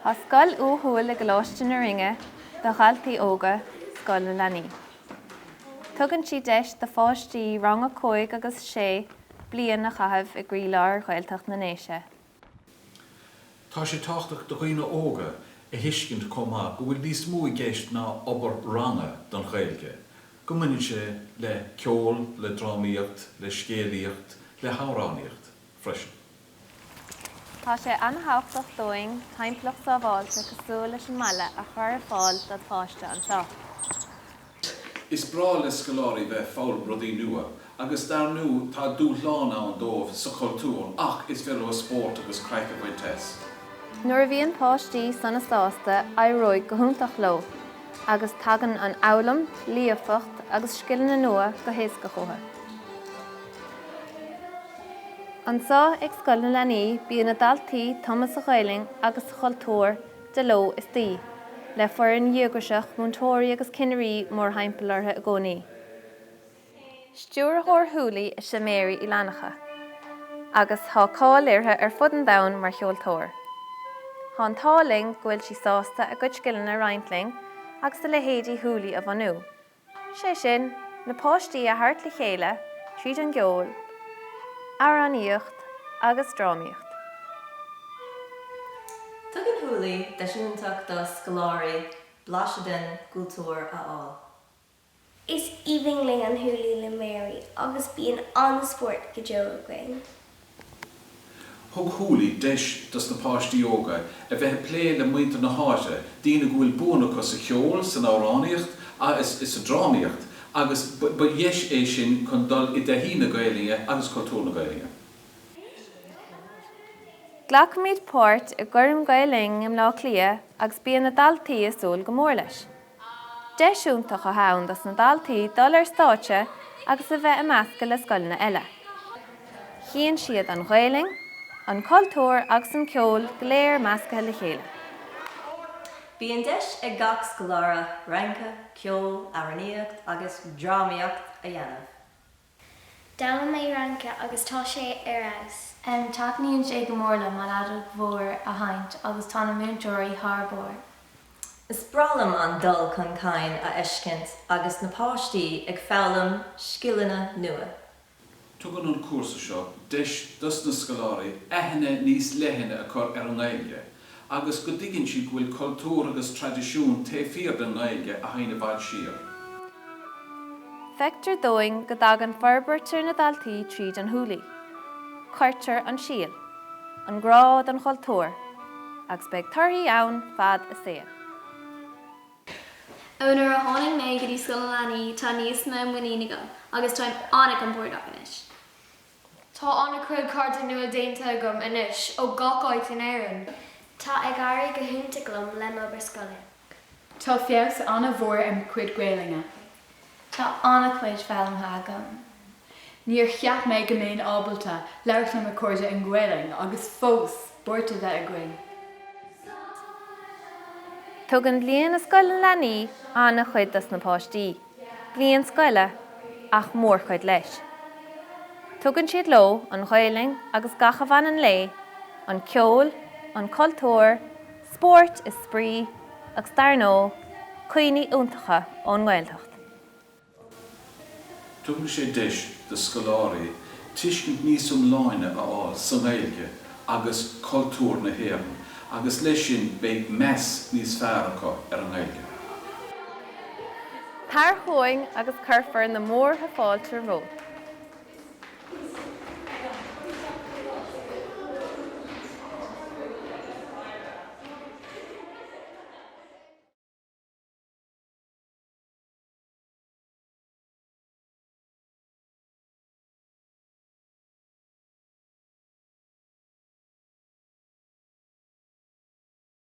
Tá scoil uathúil i gColáiste na Rinne do dhaltaí óga, Scoil na Leanaí. Tugann sí deis do pháistí rang a cúig agus a sé bliain a chaitheamh i gcroílár Ghaeltacht na nDéise. Tá sé tábhachtach do dhaoine óga a thuiscint chomh maith go bhfuil níos mó i gceist ná obair ranga don Ghaeilge, go mbaineann sé le ceol, le drámaíocht, le scéalaíocht, le hamhránaíocht freisin. Tá sé an-thábhachtach dúinn timpeallacht sábháilte cosúil leis an mbaile a chur ar fáil don pháiste anseo. Is breá le scoláirí bheith ag foghlaim rudaí nua agus dar ndú tá dúshlán ann dóibh sa chultúr ach is féidir leo spórt agus craic a bhaint as. Nuair a bhíonn páistí sona sásta éireoidh go hiontach leo agus tagann an fhoghlaim, líofacht agus scileanna nua go héasca chucu. Anseo ag Scoil na Leanaí bíonn na daltaí tumtha sa Ghaelainn agus sa chultúr de ló is d'oíche, le foireann dhíograiseach, múinteoirí agus cinnirí mórthimpeall orthu i gcónaí. Stiúrthóir Húlaí is ea Mary Uí Fhlannchadha agus tá cáil uirthi ar fud an domhain mar cheoltóir. Tá an t-ádh linn go bhfuil sí sásta a gcuid scileanna a roinnt linn agus a leithéidí Húlaí a bhunú. sé sin, na páistí a thabhairt le chéile tríd an gceol, amhránaíocht agus drámaíocht. Tugann Húlaí deis iontach do scoláirí blaiseadh den gcultúr a fháil. Is aoibhinn linn an Húlaí le Mary agus bíonn an-spórt go deo againn. Thug Húlaí deis dos na páistí óga a bheith ag plé le muintir na háite, daoine go bhfuil buanna acu sa cheol, san amhránaíocht agus sa drámaíocht agus ba dheis é sin chun dul i dtaithí na Gaelainne agus cultúr na Gaelainne. Glacaimid páirt i gCoirm Gael Linn i mBleá Cliath agus bíonn na daltaí ag súil go mór leis. Deis iontach atá ann dos na daltaí dul ar stáitse agus a bheith ag meascadh le scoileanna eile. chíonn siad an Ghaelainn, an cultúr agus an ceol go léir meascaithe le chéile. Bíonn deis ag gach scoláire rince, ceol, amhránaíocht agus drámaíocht a dhéanamh. D'fhoghlaim mé rince agus tá sé ar fheabhas. Taitníonn sé go mór liom an fheadóg mhór a sheinnt agus tá na múinteoirí thar barr. Is breá liom an dul chun cinn a fheiscint agus na páistí ag foghlaim scileanna nua. Tugann an cúrsa seo deis dos na scoláirí aithne níos leithne a chur ar an nGaeilge agus go dtuigeann siad go bhfuil cultúr agus traidisiún taobh thiar den nGaeilge a théann i bhfad siar. Feictear dúinn go dtagann forbairt ar na daltaí tríd an húlaí. Cuirtear an síol, an grá don chultúr, agus beidh torthaí ann fad a saoil. Ón uair a tháinig mé go dtí Scoil na Leanaí tá níos mó muinín agam agus táim an-compordach anois. Tá an-chuid cairde nua déanta agam anois ó gach áit in Éirinn. Tá ag éirí go hiontach liom le m'obair scoile. Tá feabhas an-mhór ar mo chuid Gaelainne. Tá an-chuid foghlamtha agam. Níor cheap mé go mbeinn ábalta labhairt le mo chairde i nGaelainn agus fós spórt a bheith againn. Tugann Bliain i Scoil na Leanaí an-chuid dos na páistí. bliain scoile ach mórchuid leis. Tugann siad leo an Ghaelainn agus gach a bhaineann léi, an ceol, an cultúr, spóirt is spraoi agus dar ndóigh cuimhní iontacha ón nGaeltacht. Tugann sé deis do scoláirí tuiscint níos iomláine a fháil sa nGaeilge agus cultúr na hÉireann agus leis sin beidh meas níos fearr acu ar an nGaeilge. Tar chugainn agus cuirfear na múrtha fáilte romhat.